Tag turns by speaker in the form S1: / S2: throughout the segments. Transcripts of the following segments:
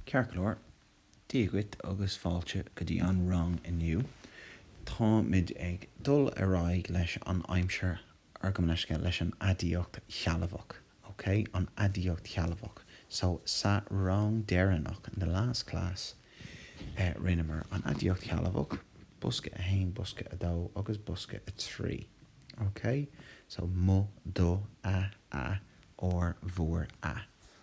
S1: Ceart go leor, Dia dhuit agus fáilte go dtí an rang inniu. Táimid ag dul ar aghaidh leis an aimsir or gabh mo leithscéal, leis an aidiacht shealbhach, ok? An aidiacht shealbhach. So, sa rang deireanach, in the last class, eh, rinneamar an aidiacht shealbhach, bosca 1, bosca 2 agus bosca 3, ok? So, mo, do, a, a, ár, bhur, a.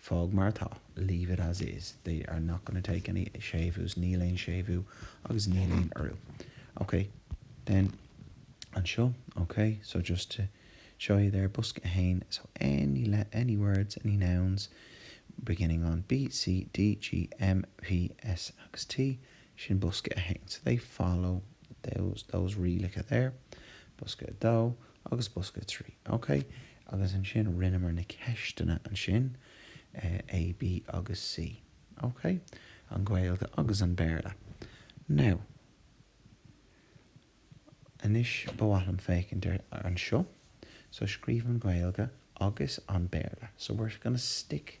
S1: Fág mar atá, leave it as is, they are not gonna take any séimhiús, níl aon séimhiú agus níl aon urú. Ok, then anseo, ok, so just to show you there, bosca 1, so any le any words, any nouns beginning on B, C, D, G, M, P, S agus T, sin bosca 1, so they follow those, those rialacha there. Bosca 2. agus bosca trí. Ok, agus ansin rinneamar na ceisteanna ansin, A, B agus C. Ok, an Ghaeilge agus an Béarla. Now, anois ba mhaith liom féachaint ar anseo, so scríobh an Ghaeilge agus an Béarla. So we're going to stick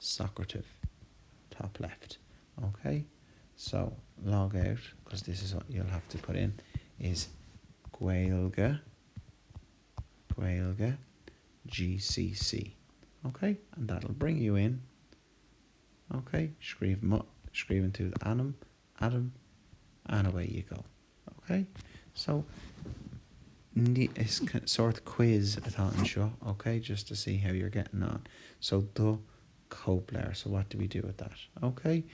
S1: socrative, top left, OK? So, log out, because this is what you'll have to put in, is gaeilge, gaeilge, GCC, OK? And that'll bring you in, OK? Scríobh mo, scríobhann tú d'ainm, Adam, And away you go. Ok? So, ní, is sórt quiz atá anseo, ok, just to see how you're getting on. So, do chóipleabhar. So, what do we do with that? Ok?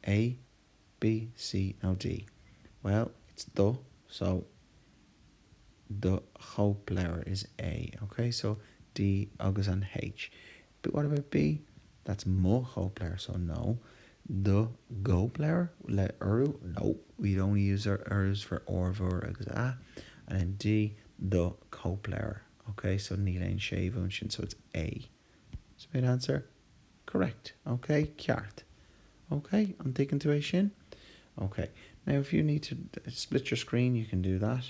S1: A, B, C nó D? Bhuel, it's do, so, do chóipleabhar is A, ok? So, D agus an H. But what about B? That's mo chóipleabhar, so no. Do gcóipleabhar? Le urú? No, we only use our urús for ár, bhur agus a. And then D, do cóipleabhar. Ok, so níl aon séimhiú ansin, so it's A. Submit answer. Correct. Ok, ceart. Ok, an dtuigeann tú é sin? Ok, now if you need to split your screen, you can do that.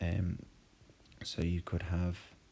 S1: Um, so you could have.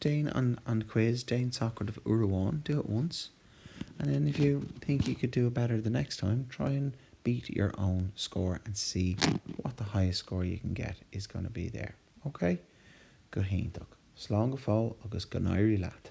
S1: Déan an an quiz, déan socraid uair amháin, do it once, and then if you think you could do it better the next time, try and beat your own score and see what the highest score you can get is going to be there. OK? Go hiontach. Slán go fóill agus go n-éirí leat!